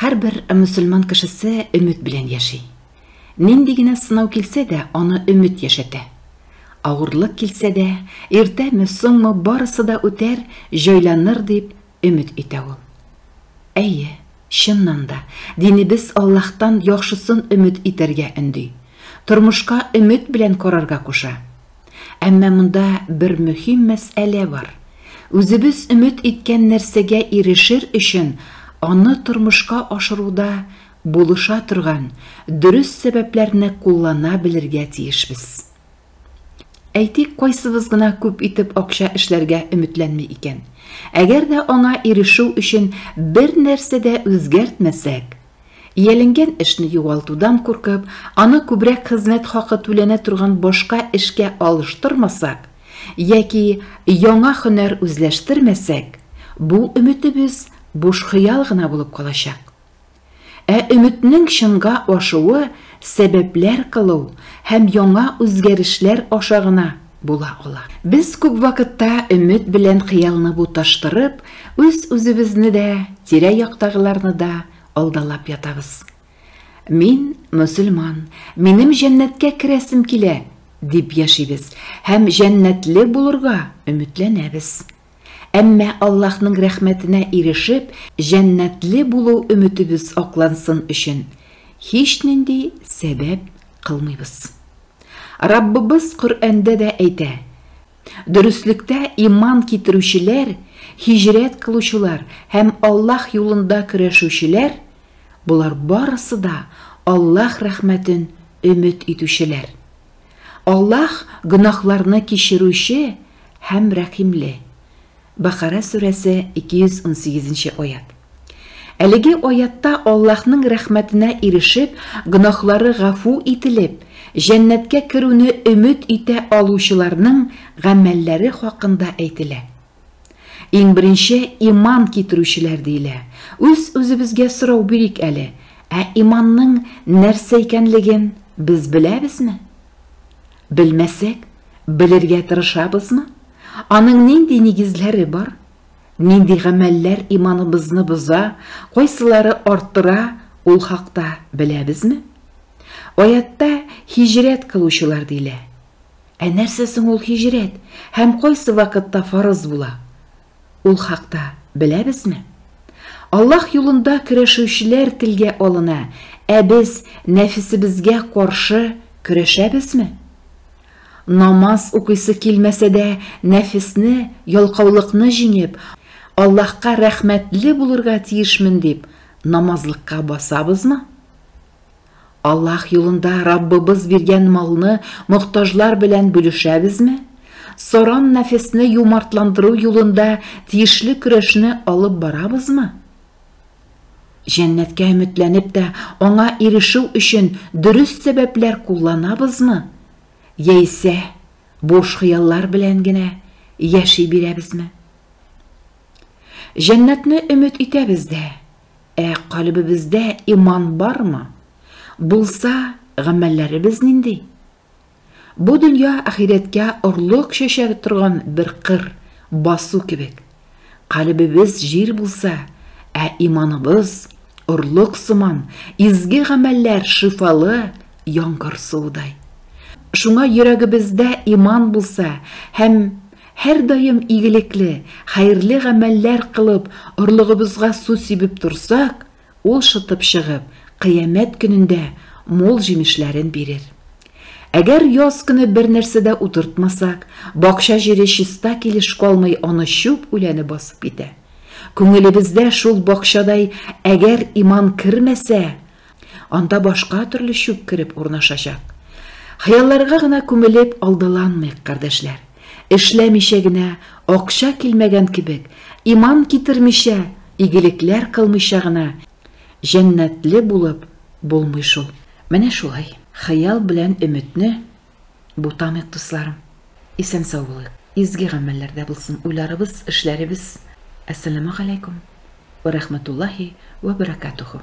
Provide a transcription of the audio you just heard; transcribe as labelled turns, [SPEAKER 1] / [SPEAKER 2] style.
[SPEAKER 1] Һәрбер мөселман кешесе өмет белән яши. Нинди генә сынау килсә дә, аны өмет яшәтә. Авырлык килсә дә, иртәме, соңмы, барысы да үтәр, җайланыр, дип өмет итә ул. Әйе, чыннан да, динебез Аллаһтан яхшысын өмет итәргә өнди. Тормышка өмет белән карарга куша. Әмма монда бер мөһим мәсьәлә бар. Үзебез өмет иткән нәрсәгә ирешер өчен аны тормышка ашыруда булыша торган дөрес сәбәпләрне куллана белергә тиешбез. Әйтик, кайсыбыз гына күп итеп акча эшләргә өметләнми икән? Әгәр дә аңа ирешү өчен бер нәрсә дә үзгәртмәсәк, Ияләнгән эшне югалтудан куркып, аны күбрәк хезмәт хакы түләнә торган башка эшкә алыштырмасак яки яңа һөнәр үзләштермәсәк, бу өметебез буш хыял гына булып калачак. Ә өметнең чынга ашуы сәбәпләр кылу һәм яңа үзгәрешләр аша гына була ала. Без күп вакытта өмет белән хыялны буташтырып, үз-үзебезне дә, тирә-яктагыларны да алдалап ятабыз. Мин мөселман, минем җәннәткә керәсем килә, дип яшибез һәм җәннәтле булырга өметләнәбез. Әмма Аллаһның рәхмәтенә ирешеп, җәннәтле булу өметебез аклансын өчен һичнинди сәбәп кылмыйбыз. Раббыбыз Коръәндә дә әйтә, Дөреслектә иман китерүчеләр, һиҗрәт кылучылар һәм Аллаһ юлында көрәшүчеләр, болар барысы да Аллаһ рәхмәтен өмет итүчеләр. Аллаһ гөнаһларны кичерүче һәм рәхимле. Бакара сүрәсе 218 нче аять. Әлеге аятта Аллаһның рәхмәтенә ирешеп, гөнаһлары гафу ителеп, җәннәткә керүне өмет итә алучыларның гамәлләре хакында әйтелә. Иң беренче иман китерүчеләр диелә. Үз-үзебезгә сорау бирик әле, ә иманның нәрсә икәнлеген без беләбезме? Белмәсәк, белергә тырышабызмы? Аның нинди нигезләре бар? Нинди гамәлләр иманыбызны боза, кайсылары арттыра, ул хакта беләбезме? Аятта һиҗрәт кылучылар диелә. Ә нәрсә соң ул һиҗрәт һәм кайсы вакытта фарыз була? Ул хакта беләбезме? Аллаһ юлында көрәшүчеләр телгә алына, ә без нәфесебезгә каршы көрәшәбезме? Намаз укыйсы килмәсә дә, нәфесне, ялкаулыкны җиңеп, Аллаһка рәхмәтле булырга тиешмен дип, намазлыкка басабызмы? Аллаһ юлында Раббыбыз биргән малны мохтаҗлар белән бүлешәбезме? Саран нәфесне юмартландыру юлында тиешле көрәшне алып барабызмы? Җәннәткә өметләнеп тә, аңа ирешү өчен дөрес сәбәпләр кулланабызмы? Яисә буш хыяллар белән генә яши бирәбезме? Җәннәтне өмет итәбез дә, Ә калебебездә иман бармы? Булса, гамәлләребез нинди? Бу дөнья ахирәткә орлык чәчәр торган бер кыр, басу кебек. Калебебез җир булса, ә иманыбыз орлык сыман, изге гамәлләр шифалы яңгыр суыдай. Шуңа йөрәгебездә иман булса һәм Һәрдаим игелекле, хәерле гамәлләр кылып, орлыгыбызга су сибеп торсак, ул шытып чыгып, кыямәт көнендә мул җимешләрен бирер. Әгәр яз көне бернәрсә дә утыртмасак, бакча җире чиста килеш калмый, аны чүп үләне басып китә. Күңелебездә шул бакчадай әгәр иман кермәсә, Анда башка төрле чүп кереп урнашачак. Хыялларга гына күмелеп алдаланмыйк, кардәшләр. Эшләмичә генә, акча килмәгән кебек, иман китермичә, игелекләр кылмыйча гына җәннәтле булып булмый шул. Менә шулай, хыял белән өметне бутамыйк, дусларым. Исән-сау булыйк. Изге гамәлләрдә булсын уйларыбыз, эшләребез. Әссәламегаләйкүм вә рәхмәтуллаһи вә бәрәкәтүһү.